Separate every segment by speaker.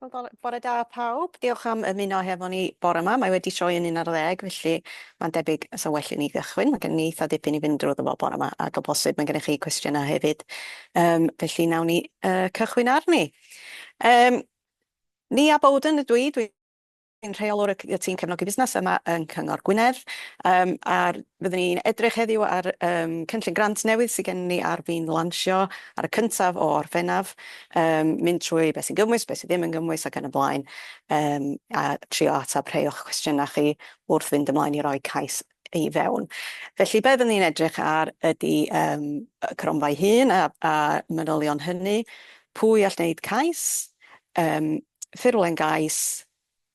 Speaker 1: Wel bo- bore da pawb. Diolch am ymuno hefo ni bore 'ma. Mae wedi troi yn un ar ddeg felly ma'n debyg fysa well i ni gychwyn. Ma' gen ni eitha dipyn i fynd drwyddo fo bore 'ma ag o bosib ma' gennych chi cwestiyna hefyd yym felly nawn ni yy cychwyn arni. Yym Nia Bowden ydw i dwi Yn rheolwr y y tîm cefnogi busnes yma yn Cyngor Gwynedd yym a'r fyddwn ni'n edrych heddiw ar yym cynllun grant newydd sy gen ni ar fin lansio ar y cyntaf o Orffennaf yym mynd trwy be' sy'n gymwys be' sy ddim yn gymwys ac yn y blaen yym a trio atab rhei o'ch cwestiyna chi wrth fynd ymlaen i roi cais i fewn. Felly be fydden ni'n edrych ar ydi um, y cronfa'i hun a, a manylion hynny, pwy all wneud cais, um, ffurflen gais,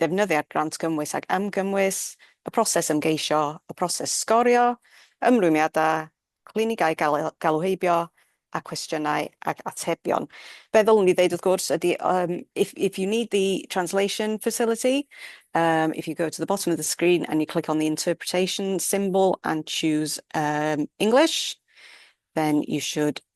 Speaker 1: defnyddiad grant gymwys ac amgymwys, y proses ymgeisio, y proses sgorio, ymrwymiadau, clinigau galw heibio, a cwestiynau ac atebion. Be ddylwn i ddeud wrth gwrs ydy um, if, if you need the translation facility, um, if you go to the bottom of the screen and you click on the interpretation symbol and choose um, English, then you should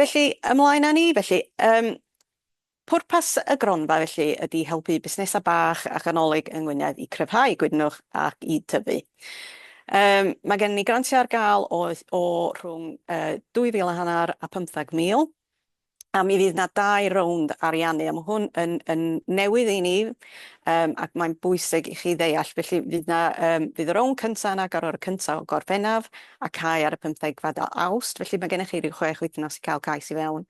Speaker 1: Felly, ymlaen â ni. Felly, um, pwrpas y gronfa felly ydy helpu busnesau bach a chanolig yng Ngwynedd i cryfhau gwydnwch ac i tyfu. Um, mae gen ni grantiau ar gael o, o rhwng uh, 2,000 a hanner a 15,000 a mi fydd yna dau rownd ariannu a mae hwn yn, yn newydd i ni um, ac mae'n bwysig i chi ddeall. Felly fydd yna, um, fydd y rownd cyntaf yn agor ar y cyntaf o Gorffennaf a cau ar y pymthegfed o Awst, felly mae gennych chi ryw chwech wythnos i cael cais i fewn,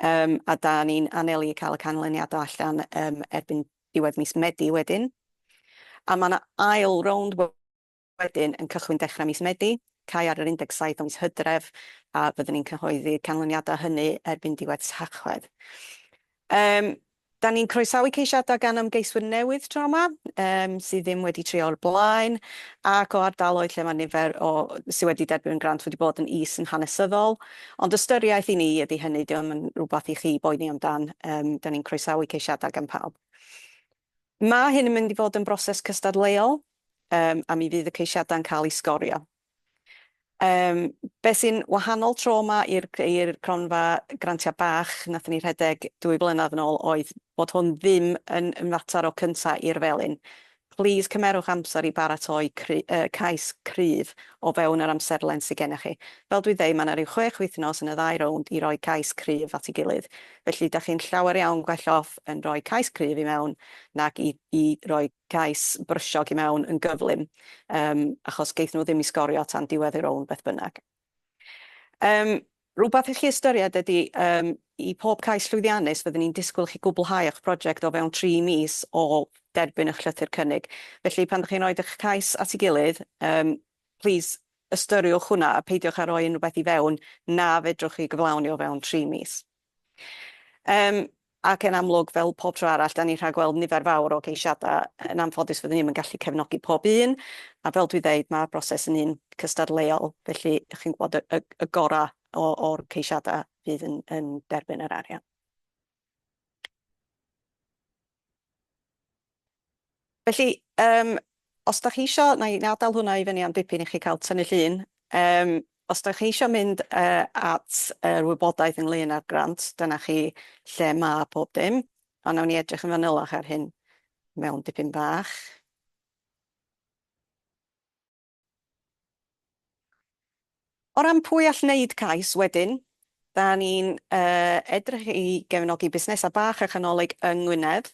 Speaker 1: yym, a 'da ni'n anelu i cael y canlyniadau allan, yym, erbyn diwedd mis Medi wedyn. A mae 'na ail rownd wedyn yn cychwyn dechrau mis Medi, cau ar yr 17 o mis Hydref, a fyddwn ni'n cyhoeddi canlyniadau hynny erbyn diwedd Tachwedd. Yym, Da ni'n croesawu ceisiadau gan ymgeiswyr newydd tro yma, sydd ddim wedi trio o'r blaen, ac o ardaloedd lle mae nifer o sydd wedi derbyn grant wedi bod yn is yn hanesyddol. Ond ystyriaeth i ni ydy hynny, dio'm yn rhywbeth i chi boeni amdan, da ni'n croesawu ceisiadau gan pawb. Mae hyn yn mynd i fod yn broses cystadleuol, a mi fydd y ceisiadau'n cael eu sgorio. Yym, be' sy'n wahanol tro 'ma i'r c- i'r cronfa grantia bach nathon ni rhedeg dwy flynadd yn ôl oedd bod hwn ddim yn yn fatar o cynta i'r felin. Plîs cymerwch amser i baratoi cry- yy cais cryf o fewn yr amserlen sy gennych chi. Fel dwi'n deud, ma' 'na ryw chwech wythnos yn y ddau rownd i roi cais cryf at ei gilydd, felly 'dach chi'n llawer iawn gwell off yn rhoi cais cryf i mewn nag i i roi cais brysiog i mewn yn gyflym yym achos geith nhw ddim i sgorio tan diwedd y rownd beth bynnag. Yym rhywbeth i chi ystyried ydi yym i pob cais llwyddiannus fydden ni'n disgwyl i chi gwblhau eich project o fewn tri mis o derbyn eich llythyr cynnig. Felly pan dych chi'n rhoid eich cais at ei gilydd yym plîs ystyriwch hwnna a peidiwch â rhoi unrhywbeth i fewn na fedrwch chi gyflawni o fewn tri mis. Yym, ac yn amlwg, fel pob tro arall, 'dan ni'n rhagweld nifer fawr o geisiadau. Yn anffodus, fyddwn ni ddim yn gallu cefnogi pob un, a fel dwi'n dweud, ma'r broses yn un cystadleuol, felly chi'n gwybod, y y y gorau o o'r ceisiadau fydd yn yn derbyn yr arian. Felly, yym, os dach chi isio, na i adal hwnna i fyny am dipyn i chi cael tynnu llun, yym, os dach chi isio mynd yy at yr wybodaeth ynglŷn â'r grant, dyna chi lle ma' pob dim, ond nawn ni edrych yn fanylach ar hyn mewn dipyn bach. O ran pwy all wneud cais wedyn, dan ni'n edrych i gefnogi busnesau bach a chanolig yng Ngwynedd,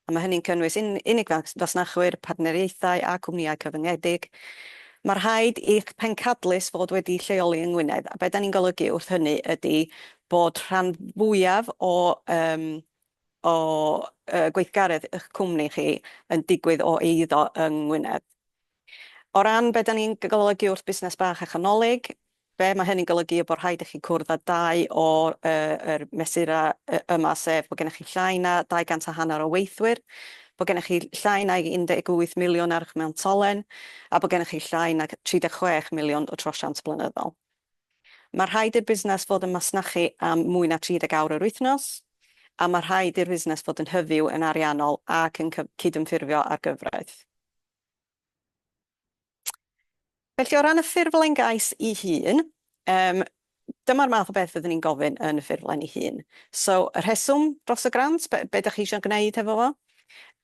Speaker 1: a mae hynny'n cynnwys unig fasnachwyr, partneriaethau a cwmnïau cyfyngedig. Mae rhaid i'ch pencadlys fod wedi'i lleoli yng Ngwynedd, a be dan ni'n golygu wrth hynny ydy bod rhan fwyaf o o gweithgaredd y'ch cwmni chi yn digwydd o eiddo yng Ngwynedd. O ran be da ni'n golygu wrth busnes bach a chanolig, be mae hynny'n golygu yw bod rhaid i chi cwrdd â dau o yr mesurau yma sef bod gennych chi llai na 200 a hanner o weithwyr, bod gennych chi llai nag 18 miliwn ar y'ch mewntolen a bod gennych chi llai nag 36 miliwn o drosiant blynyddol. Mae rhaid i'r busnes fod yn masnachu am mwy na 30 awr yr wythnos, a mae rhaid i'r fusnes fod yn hyfyw yn ariannol ac yn cydymffurfio â'r gyfraith. Felly, o ran y ffurflen gais ei hun, yym, dyma'r math o beth fyddwn ni'n gofyn yn y ffurflen ei hun. So, y rheswm dros y grant, be, be dych chi eisiau gwneud hefo fo?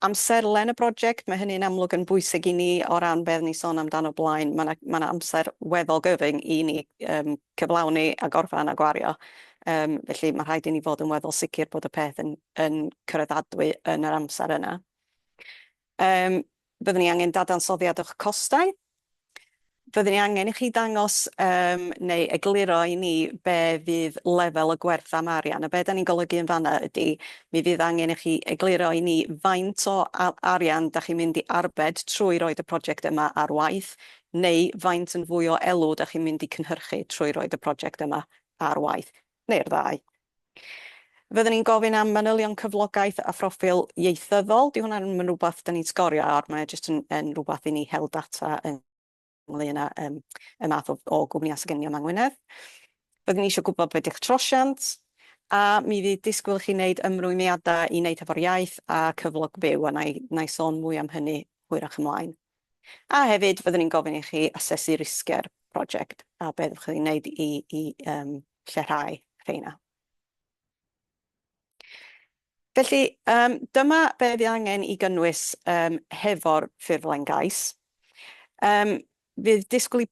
Speaker 1: Amserlen y broject, mae hynny'n amlwg yn bwysig i ni o ran be oedden ni'n sôn amdano blaen. Mae 'na mae 'na amser weddol gyfyng i ni yym cyflawni a gorffen a gwario yym felly ma' rhaid i ni fod yn weddol sicr bod y peth yn yn cyraddadwy yn yr amser yna. Yym Byddwn ni angen dadansoddiad o'ch costau. Byddwn ni angen i chi ddangos um, neu egluro i ni be fydd lefel y gwerth am arian. A be da ni'n golygu yn fanna ydy, mi fydd angen i chi egluro i ni faint o arian da chi'n mynd i arbed trwy roed y prosiect yma ar waith, neu faint yn fwy o elw da chi'n mynd i cynhyrchu trwy roed y prosiect yma ar waith. neu'r ddau. Fydden ni'n gofyn am manylion cyflogaeth a phroffil ieithyddol. Dyw hwnna ddim yn rhywbeth dan ni'n sgorio ar, mae o jyst yn yn rhywbeth i ni hel data ynglŷn â yym y math o o gwmnïau sy' gennyn ni yma yng Ngwynedd. Fydden ni isio gwybod be' di'ch trosiant, a mi fydd disgwyl i chi wneud ymrwymiadau i wneud hefo'r iaith a cyflog byw, a wna i wna i sôn mwy am hynny hwyrach ymlaen. A hefyd, fyddwn ni'n gofyn i chi asesu risgiau'r prosiect a be fyddwch chi'n wneud i lleihau rheina. Felly, dyma be fydd angen i gynnwys hefo'r ffurflen gais. Fydd disgwyl i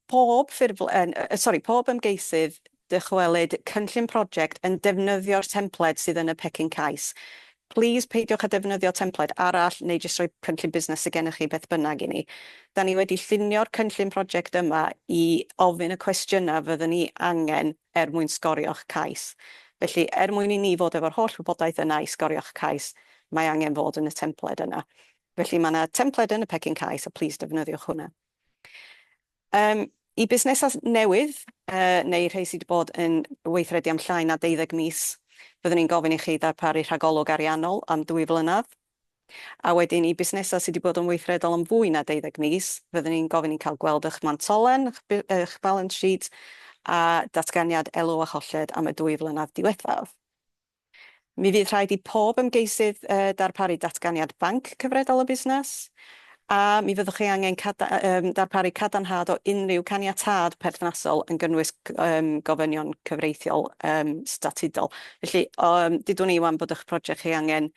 Speaker 1: pob ymgeisydd Dychwelyd cynllun project yn defnyddio'r templed sydd yn y pecyn cais. Plîs peidiwch â defnyddio templed arall neu jyst rhoi cynllun busnes sy gennych chi beth bynnag i ni. Da ni wedi llunio'r cynllun project yma i ofyn y cwestiynau fyddwn ni angen er mwyn sgorio'ch cais. Felly, er mwyn i ni fod efo'r holl wybodaeth yna i sgorio'ch cais, mae angen fod yn y templed yna. Felly, mae yna templed yn y pecyn cais a plîs defnyddiwch hwnna. Yym, i busnesau newydd, yy, neu rhei sy' 'di bod yn weithredu am llai na deuddeg mis, fyddwn ni'n gofyn i chi ddarparu rhagolwg ariannol am dwy flynedd. A wedyn, i busnesau sy' 'di bod yn weithredol am fwy na deuddeg mis, fyddwn ni'n gofyn i cael gweld eich mantolen, eich bu- eich balance sheet, a datganiad elw a cholled am y dwy flynedd diwethaf. Mi fydd rhaid i pob ymgeisydd darparu Datganiad Banc Cyfredol y Busnes, a mi fyddwch chi angen darparu cadarnhad o unrhyw caniatâd perthnasol yn gynnwys gofynion cyfreithiol statudol. Felly, dudwn i 'wan bod eich project chi angen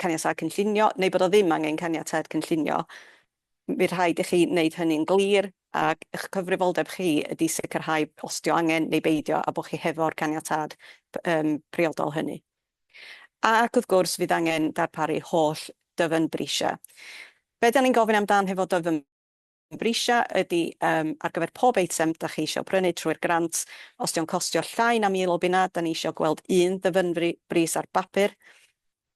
Speaker 1: caniatâd cynllunio, neu bod o ddim angen caniatâd cynllunio, Bydd rhaid i chi wneud hynny'n glir, ac eich cyfrifoldeb chi ydy sicrhau os 'di o angen neu beidio a bod chi hefo'r caniatâd priodol hynny. Ac wrth gwrs, fydd angen darparu holl dyfynbrisiau. Be' 'dan ni'n gofyn amdan hefo dyfynbrisiau ydy yym ar gyfer pob eitem 'dach chi isio prynu trwy'r grant, os 'di o'n costio llai na mil o bunnau, 'dan ni isio gweld un ddyfynbris ar bapur,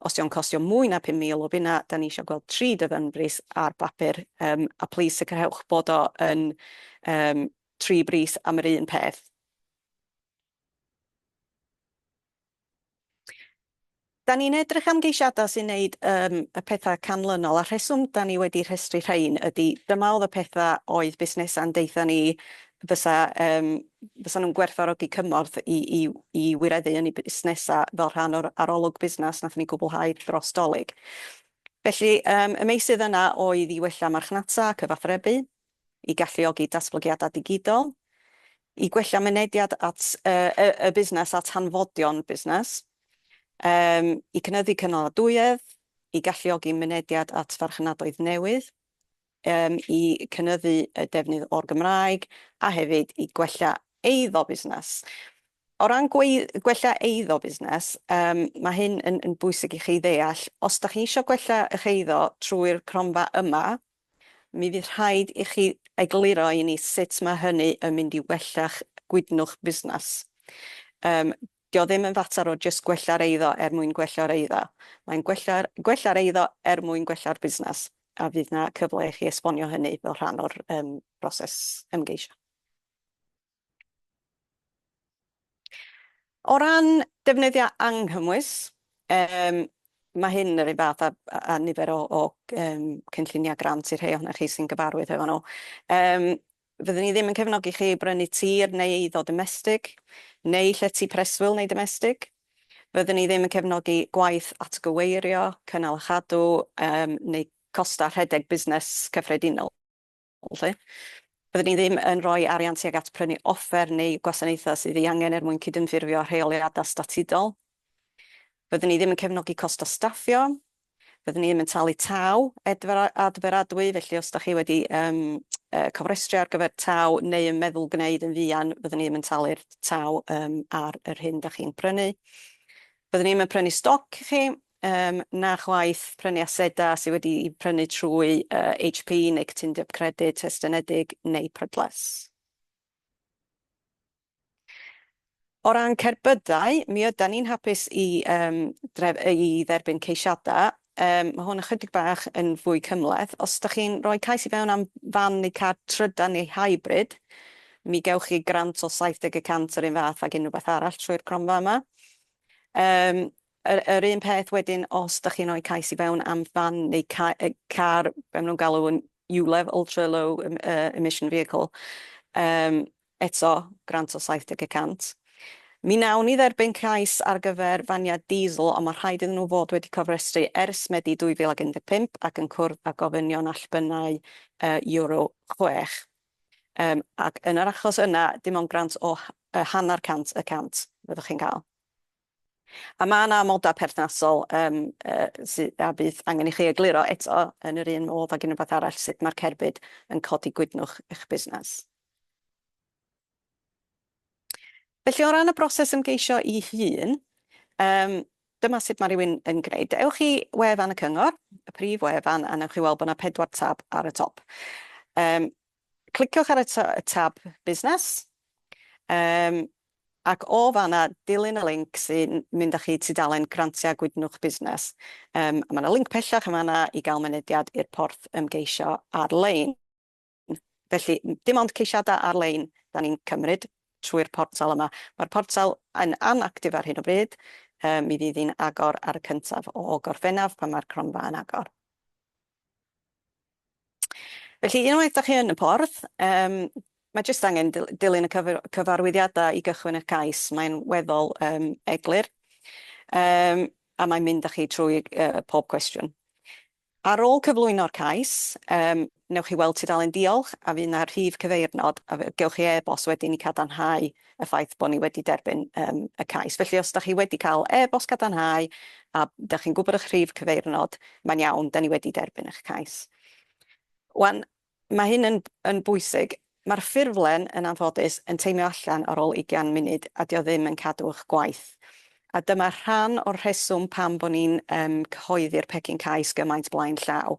Speaker 1: Os dio'n costio mwy na 5,000 o bunna, da ni isio gweld tri dyddynbris ar bapur, yym, a plîs sicrhewch bod o yn, yym, tri bris am yr un peth. Da ni'n edrych am geisiadau sy'n neud, yym, y pethau canlynol, a'r rheswm da ni wedi rhestru rhein ydi dyma oedd y pethau oedd busnesau'n deutha ni fysa, yym, fysa nhw'n gwerthfawrogi cymorth i i i wireddu yn eu busnesau fel rhan o'r arolwg busnes wnaethon ni gwblhau dros Dolig. Felly, yym, y meysydd yna oedd i wella marchnata a cyfathrebu, i galluogi datblygiadau digidol, i gwella mynediad at yy y y busnes at hanfodion busnes, yym, i cynyddu cynaladwyedd, i galluogi mynediad at farchnadoedd newydd, yym i cynyddu y defnydd o'r Gymraeg a hefyd i gwella eiddo busnes. O ran gwei- gwella eiddo busnes yym ma' hyn yn yn bwysig i chi ddeall. Os dach chi isio gwella 'ych eiddo trwy'r cronfa yma mi fydd rhaid i chi egluro i ni sut ma' hynny yn mynd i wella'ch gwydnwch busnes. Yym Dio ddim yn fater o jyst gwella'r eiddo er mwyn gwella'r eiddo, mae'n gwella'r gwella'r eiddo er mwyn gwella'r busnes, a fydd 'na cyfle i chi esbonio hynny fel rhan o'r yym broses ymgeisio. O ran defnyddio anghymwys, yym ma' hyn yr un fath â â nifer o o yym cynllunia' grant i'r rhei ohonoch chi sy'n gyfarwydd hefo nhw. Yym Fydden ni ddim yn cefnogi chi i brynu tir neu eiddo domestig, neu llety preswyl neu domestig. Fydden ni ddim yn cefnogi gwaith atgyweirio, cynnal a chadw um, neu costau rhedeg busnes cyffredinol. Felly, bydden ni ddim yn rhoi arian tuag at prynu offer neu gwasanaethau sydd ei angen er mwyn cydymffurfio â rheoliadau statudol. Fydden ni ddim yn cefnogi costau staffio, Fyddwn ni ddim yn talu tâl adferadwy, felly os da chi wedi cofrestru ar gyfer tâl neu yn meddwl gwneud yn fuan, fyddwn ni ddim yn talu'r tâl ar yr hyn da chi'n prynu. Byddwn ni ddim yn prynu stoc i chi, na chwaith prynu asedau sydd wedi'u prynu trwy HP neu Cytundeb Credyd Estynedig neu Prydles. O ran cerbydau, mi ydan ni'n hapus i yym dref- yy i dderbyn ceisiada'. Yym ma' hwn ychydig bach yn fwy cymhleth. Os 'dach chi'n rhoi cais i fewn am fan neu car trydan neu hybrid, mi gewch chi grant o 70 y cant yr un fath ag unryw beth arall trwy'r cronfa yma. Yym Yr un peth wedyn os dach chi'n rhoi cais i fewn am fan neu car, be maen nhw'n galw yn ULEV, Ultra Low Emission Vehicle, eto grant o 70 y cant. Mi wnawn ni dderbyn cais ar gyfer faniau diesel ond mae'n rhaid iddyn nhw fod wedi cofrestru ers Medi 2015 ac yn cwrdd â gofynion allbynnau Euro 6. Ac yn yr achos yna dim ond grant o hanner cant y cant fyddwch chi'n cael. A ma' 'na amoda perthnasol yym yy sy- a fydd angen i chi egluro eto yn yr un modd ag unrywbeth arall sut ma'r cerbyd yn codi gwydnwch i'ch busnes. Felly o ran y broses ymgeisio 'i hun yym dyma sut ma' rywun yn gneud. Ewch i wefan y cyngor, y prif wefan, a newch chi weld bo' 'na pedwar tab ar y top. Yym cliciwch ar y ta- y tab busnes. Yym Ac o fan'na, dilyn y linc sy'n mynd â chi i tudalen Grantiau Gwydnwch Busnes. Yym, a mae 'na linc pellach yn fan'na i gael mynediad i'r porth ymgeisio ar-lein. Felly, dim ond ceisiadau ar-lein 'dan ni'n cymryd trwy'r portal yma. Mae'r portal yn anactif ar hyn o bryd, yy mi fydd hi'n agor ar y cyntaf o Gorffennaf pan mae'r cronfa yn agor. Felly, unwaith da chi yn y porth, um, mae jyst angen dilyn y cyfarwyddiadau i gychwyn y cais. Mae'n weddol um, eglur. Um, a mae'n mynd â chi trwy uh, pob cwestiwn. Ar ôl cyflwyno'r cais, um, newch chi weld tudalen diolch a fydd yna rhif cyfeirnod a fe- gewch chi e-bost wedyn i cadarnhau y ffaith bod ni wedi derbyn yym y cais. Felly os da chi wedi cael e-bost cadarnhau a da chi'n gwybod eich rhif cyfeirnod, mae'n iawn, da ni wedi derbyn eich cais. Wan, mae hyn yn, yn bwysig. Mae'r ffurflen, yn anffodus, yn teimio allan ar ôl 20 munud a dio ddim yn cadw eich gwaith. A dyma rhan o'r rheswm pam bod ni'n um, cyhoeddi'r pecyn cais gymaint blaen llaw.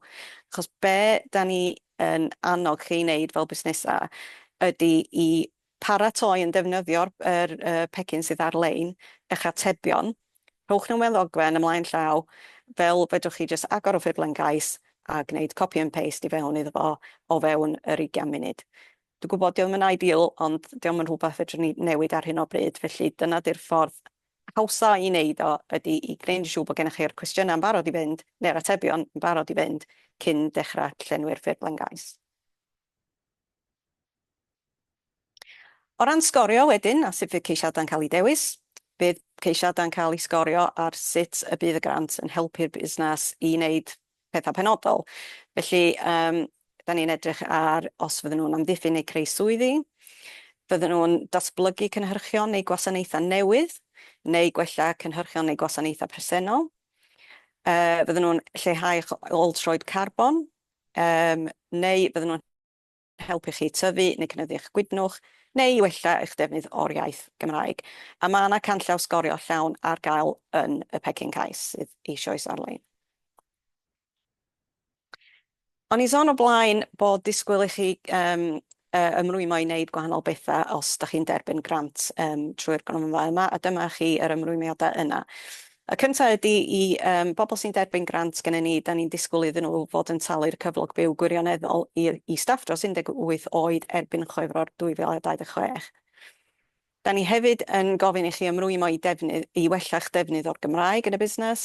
Speaker 1: Achos be da ni yn annog chi i wneud fel busnesau ydy i Paratoi yn defnyddio'r pecyn sydd ar-lein, eich atebion, rhowch nhw mewn ddogfen ymlaen llaw, fel fedrwch chi jyst agor y ffurflen gais a gwneud copy and paste i fewn iddo fo o fewn yr ugain munud. Dwi'n gwybod 'di o ddim yn ideal ond 'di o'm yn rhywbeth fedrwn ni newid ar hyn o bryd felly dyna 'di'r ffordd hawsa i wneud o ydi i gwneud yn siŵr bod gennych chi'r cwestiynau yn barod i fynd neu'r atebion yn barod i fynd cyn dechrau llenwi'r ffurflen gais. O ran sgorio wedyn a sut fydd ceisiadau'n cael eu dewis, bydd ceisiadau'n cael eu sgorio ar sut y bydd y grant yn helpu'r busnes i wneud pethau penodol. Felly, yym, da ni'n edrych ar os fydden nhw'n amddiffyn neu creu swyddi, fydden nhw'n datblygu cynhyrchion neu gwasanaethau newydd, neu gwella cynhyrchion neu gwasanaethau presennol, yy, fydden nhw'n lleihau eich ôl-troed carbon, Yym, neu bydden nhw'n helpu chi tyfu neu cynyddu eich gwydnwch, neu i wella eich defnydd o'r iaith Gymraeg. A mae yna canllaw sgorio llawn ar gael yn y pecyn cais, sydd eisioes ar-lein. O'n i'n sôn o blaen bod disgwyl i chi Yy, ymrwymo i wneud gwahanol betha os da chi'n derbyn grant yym trwy'r gronfa yma, a dyma chi yr ymrwymiada yna. Y cynta ydi i yym bobl sy'n derbyn grant gennyn ni, da ni'n disgwl iddyn nhw fod yn talu'r cyflog byw gwirioneddol i i staff dros 18 oed erbyn Chwefror 2026. Da ni hefyd yn gofyn i chi ymrwymo i defnydd, i wella'ch defnydd o'r Gymraeg yn y busnes,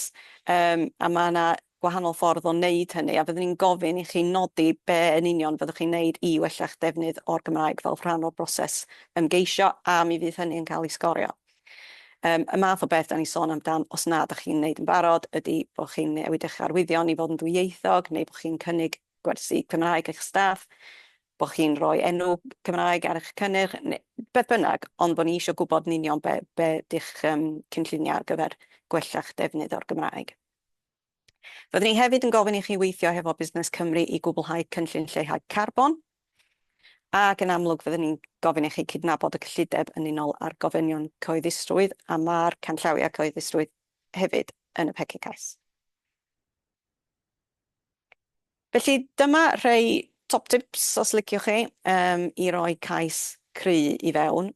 Speaker 1: yym, a ma' 'na gwahanol ffordd o neud hynny, a fyddwn ni'n gofyn i chi nodi be' yn union fyddwch chi'n neud i wella'ch defnydd o'r Gymraeg fel rhan o'r broses ymgeisio, a mi fydd hynny yn cael ei sgorio. Yym, y math o beth 'da ni'n sôn amdan, os na 'dach chi'n neud yn barod, ydi bo' chi'n newid eich arwyddion i fod yn ddwyieithog, neu bo' chi'n cynnig gwersi Cymraeg i'ch staff, bo chi'n rhoi enw Cymraeg ar eich cynnyrch, beth bynnag, ond bo ni isio gwybod yn union be, be di'ch um, cynlluniau ar gyfer gwella'ch defnydd o'r Gymraeg. Fyddwn ni hefyd yn gofyn i chi weithio hefo Busnes Cymru i gwblhau cynllun lleihau carbon, ac yn amlwg fyddwn ni'n gofyn i chi cydnabod y cyllideb yn unol â'r gofynion cyhoeddusrwydd a ma'r canllawiau cyhoeddusrwydd hefyd yn y pecyn cais. Felly dyma rhei top tips os liciwch chi yym i roi cais cry i fewn.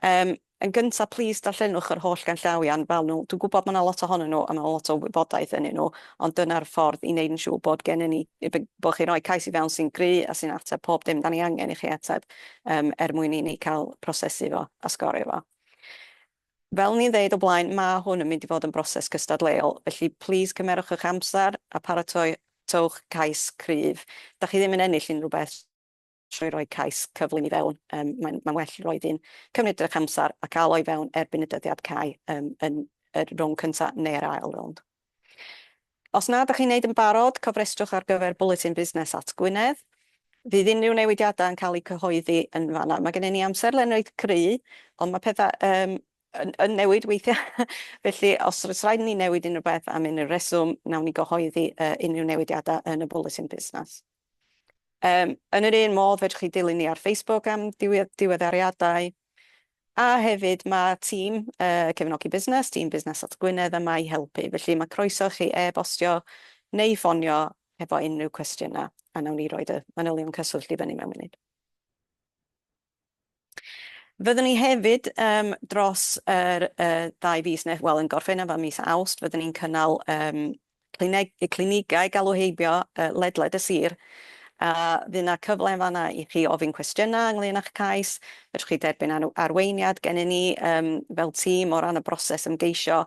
Speaker 1: Yym yn gynta plîs darllenwch yr holl ganllawiau'n fel nhw. Dwi'n gwybod ma' 'na lot ohonyn nhw a ma' 'na lot o wybodaeth ynyn nhw ond dyna'r ffordd i neud yn siŵr bod gennyn ni yy b- bo' chi'n rhoi cais i fewn sy'n gry a sy'n ateb pob dim 'dan ni angen i chi ateb yym er mwyn i ni ca'l prosesu fo a sgorio fo. Fel ni'n ddeud o blaen, ma' hwn yn mynd i fod yn broses cystadleuol, felly plîs cymerwch eich amser a pharatoiwch cais cryf. Da chi ddim yn ennill unrhyw beth trwy roi cais cyflym i fewn, mae'n well roid un, cymryd eich amser a cael o i fewn erbyn y dyddiad cau yn y rownd cyntaf neu'r ail rownd. Os nad ydych chi'n wneud yn barod, cofrestrwch ar gyfer Bwletin Busnes at Gwynedd. Fydd unrhyw newidiadau yn cael eu cyhoeddi yn fan'na. Mae gennym ni amserlen reit gry, ond mae pethau yn newid weithiau, felly os oes rhaid i ni newid unrhyw beth am unrhyw reswm, wnawn ni gyhoeddi unrhyw newidiadau yn y Bwletin Busnes. Yym, yn yr un modd fedrwch chi dilyn ni ar Facebook am diwe- diweddariadau, a hefyd mae tîm uh, cefnogi busnes, tîm busnes at Gwynedd yma i helpu, felly mae croeso chi e-bostio neu ffonio efo unrhyw cwestiynau, a nawn ni roed y manylion cyswllt i fyny mewn munud. Fyddwn ni hefyd yym dros yr yy ddau fis ne' wel yn Gorffennaf a mis Awst fyddwn ni'n cynnal yym clineg- yy clinigau galw heibio yy ledled y sir a fydd 'na cyfle yn fan'na i chi ofyn cwestiyna ynglŷn â'ch cais, fedrwch chi derbyn ar- arweiniad gennyn ni yym fel tîm o ran y broses ymgeisio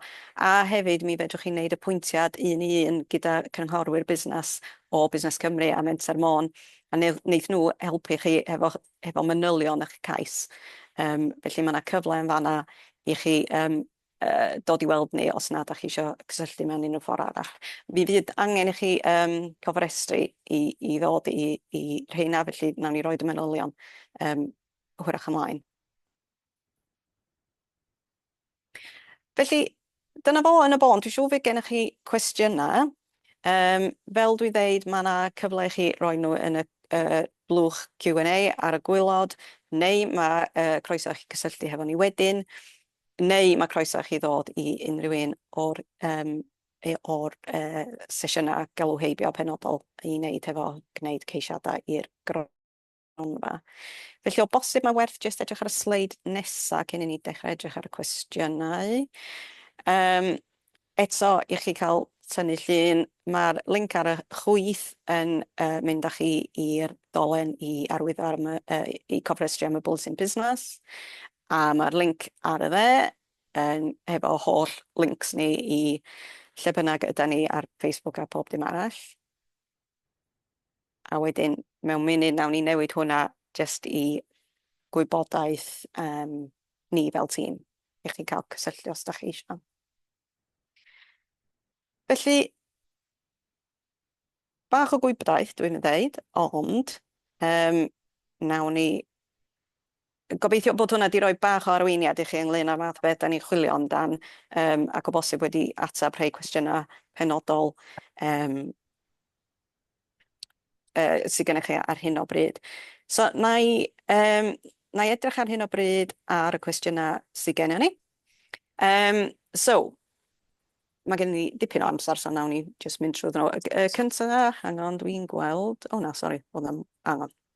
Speaker 1: a hefyd mi fedrwch chi neud apwyntiad un i un gyda cynghorwyr busnas o Busnes Cymru a Menter Môn a neu- neith nhw helpu chi hefo hefo manylion eich cais. Yym, felly ma' 'na cyfle yn fan'na i chi yym yy dod i weld ni os na 'dach chi isio cysylltu mewn unryw ffor arall. Mi fydd angen i chi yym cofrestru i i ddod i i rheina, felly nawn ni roid y manylion yym hwyrach ymlaen. Felly, dyna fo yn y bôn. Dwi'n siŵr fydd gennych chi cwestiynau. Um, fel dwi'n dweud, mae yna cyfle i chi roi nhw yn y uh, blwch Q&A ar y gwylod, neu mae uh, croeso i chi gysylltu hefo ni wedyn, neu mae croeso i chi ddod i unrhyw un o'r um, E, o'r uh, sesiynau galw heibio penodol i wneud hefo gwneud ceisiadau i'r gronfa. gronfa. Felly o bosib mae werth jyst edrych ar y sleid nesaf cyn i ni dechrau edrych ar y cwestiynau. Um, eto, i chi cael tynnu llun, mae'r link ar y chwyth yn uh, mynd â chi i'r dolen i arwyddo ar y, uh, i cofrestru am y bwlsyn busnes. A mae'r link ar y dde yn hefo holl links ni i lle bynnag yda ni ar Facebook a pob dim arall. A wedyn, mewn munud, wnawn ni newid hwnna jyst i gwybodaeth um, ni fel tîm, i chi cael cysylltu os ydych chi eisiau. Felly, bach o gwybodaeth dwi'n ddeud, ond um, nawn ni Gobeithio bod hwnna 'di roi bach o arweiniad i chi ynglŷn â'r fath o beth 'dan ni'n chwilio amdan, yym, ac o bosib wedi ateb rhei cwestiyna penodol, yym, yy, sy gynnoch chi ar hyn o bryd. So, na i, yym, na i edrych ar hyn o bryd ar y cwestiyna sy gennon ni. Um, so, mae gen i dipyn o amser, so nawn ni jyst mynd trwy ddyn nhw. Y cynta, hang on, dwi'n gweld... O na, sori, oedd 'na'm... Hang on.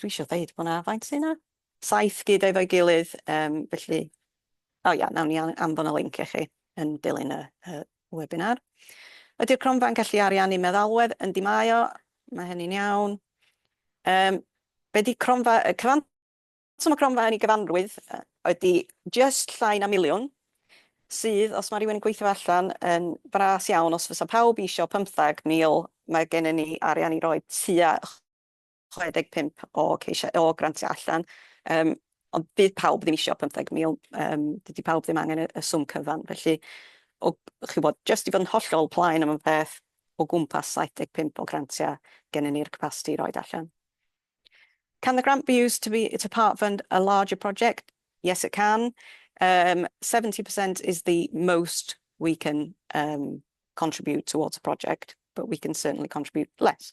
Speaker 1: Dwi isio ddeud bod 'na... Faint sy 'na? Saith gyda efo'i gilydd, yym, felly... O ia, nawn ni anfon y linc i chi yn dilyn y webinar. Ydy'r cronfa'n gallu ariannu meddalwedd? Yndi mae o, mae hynny'n iawn. Yym, be 'di cronfa? Y cyfanswm y cronfa yn ei gyfanrwydd ydi jyst llai na miliwn, sydd, os mae rhywun yn gweithio allan, yn fras iawn. Os fysa pawb isio 15,000, mae gennym ni arian i roi tua 65 o ceisiau o grantiau allan, yym, ond fydd pawb ddim isio 15,000, yym, dydy pawb ddim angen y y swm cyfan. Felly, o, chibod, jyst i fod yn hollol plain am y peth, o gwmpas 75 o grantiau gennyn ni'r capasiti i roid allan. Can the grant be used to be, to part fund a larger project? Yes it can. Yym, 70% is the most we can, yym, contribute towards a project, but we can certainly contribute less.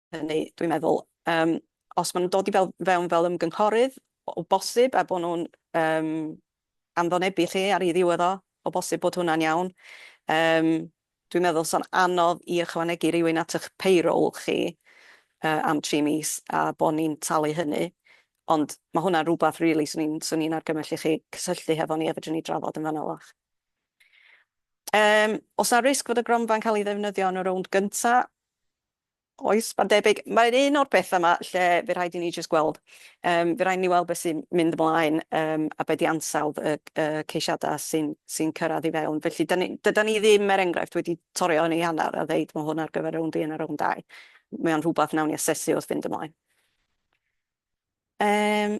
Speaker 1: hynny, dwi'n meddwl, yym, os maen nhw'n dod i fel, fewn fel ymgynghorydd, o bosib, a bod nhw'n um, anfonebu lle ar ei ddiwedd o, o bosib bod hwnna'n iawn. Um, dwi'n meddwl so'n anodd i ychwanegu rhywun at eich payroll chi uh, am tri mis a bod ni'n talu hynny. Ond mae hwnna'n rhywbeth, really, swn i'n swn i'n argymell i chi cysylltu hefo ni a fedrwn ni drafod yn fan'na fach. Um, os na risg fod y gronfa'n cael ei ddefnyddio yn y rownd gyntaf, Oes, mae'n debyg. Mae'n un o'r pethau yma lle fe rhaid i ni jyst gweld. Um, fe rhaid ni weld beth sy'n mynd ymlaen um, a beth i ansawdd y, y ceisiadau sy'n sy cyrraedd i fewn. Felly, da ni, dyda ni ddim, er enghraifft, wedi torio yn ei hanner a ddeud mae hwn ar gyfer rownd un a rownd dau. Mae o'n rhywbeth nawn ni asesu wrth fynd ymlaen. Um,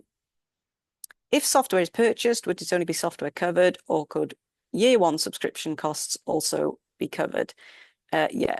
Speaker 1: if software is purchased, would it only be software covered or could year one subscription costs also be covered? Uh, yeah,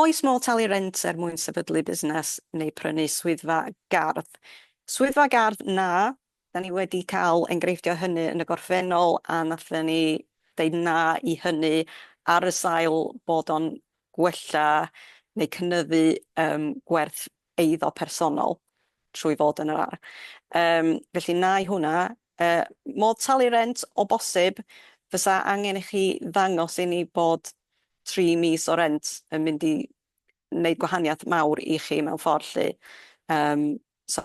Speaker 1: Oes modd talu rent er mwyn sefydlu busnes neu prynu swyddfa gardd? Swyddfa gardd, na. Da ni wedi cael enghreifftiau o hynny yn y gorffennol a wnaethon ni ddeud na i hynny ar y sail bod o'n gwella neu cynyddu gwerth eiddo personol trwy fod yn yr ardd. Yym, felly nai hwnna. Yy, modd talu rent o bosib, fysa angen i chi ddangos i ni bod tri mis o rent yn mynd i neud gwahaniath mawr i chi mewn ffordd lly. Yym, so.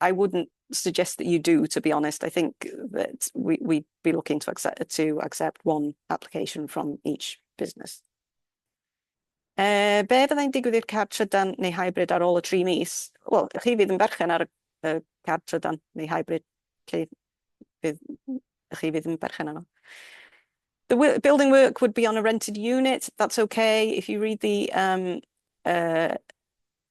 Speaker 1: I wouldn't suggest that you do, to be honest. I think that we'd be looking to accept one application from each business. Be fyddai'n digwydd i'r card trydan neu hybrid ar ôl y tri mis? Wel, chi fydd yn berchen ar y card trydan neu hybrid lle chi fydd yn berchen arno. The building work would be on a rented unit. That's okay. If you read the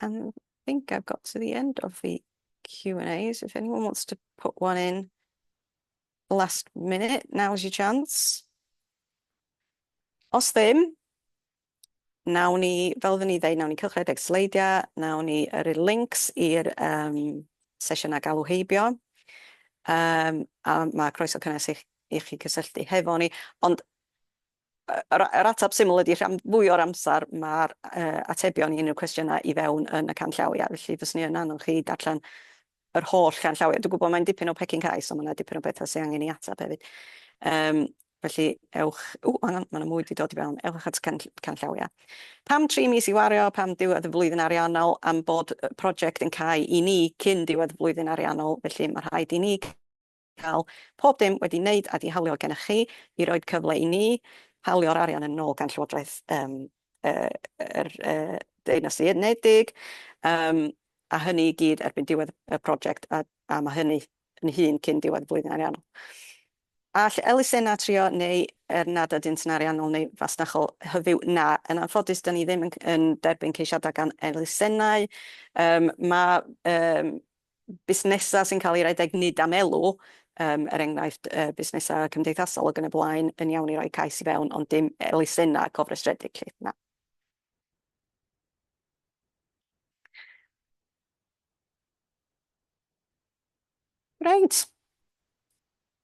Speaker 1: And I think I've got to the end of the Q&As. If anyone wants to put one in last minute, now's your chance. Os ddim, nawn ni, fel oedden ni ddeud, nawn ni cylchred eich sleidiau, nawn ni yrru links i'r yym sesiynau galw heibio, yym a ma' croeso cynnes i chi i chi gysylltu hefo ni. Ond Yr yr ateb syml ydi rhan fwy o'r amser ma'r yy atebion i unryw cwestiyna i fewn yn y canllawia felly fyswn i yn annog chi darllen yr holl ganllawia. Dwi'n gwbo mae'n dipyn o pecyn cau so ma' 'na dipyn o betha sy angen 'i atab hefyd yym felly ewch ww ma' 'na ma' 'na mwy 'di dod i fewn ewch at can- canllawia. Pam tri mis i wario pam diwedd y flwyddyn ariannol am bod y project yn cau i ni cyn diwedd y flwyddyn ariannol felly ma' rhaid i ni cael pob dim wedi neud a 'di hawlio gennych chi i roid cyfle i ni hawlio'r arian yn ôl gan Llywodraeth yym yr Deyrnas Unedig yym a hynny i gyd erbyn diwedd y project a a ma' hynny yn hŷn cyn diwedd y flwyddyn ariannol. All elusenna trio neu er nad ydynt yn ariannol neu fasnachol hyfyw na, yn anffodus da ni ddim yn yn derbyn ceisiada gan elusennau. Yym ma' yym busnesau sy'n cael eu rhedeg nid am elw, yym, er enghraifft, yy, busnesau cymdeithasol ac yn y blaen, yn iawn i roi cais i fewn, ond dim elusennau cofrestredig 'lly, na. Reit.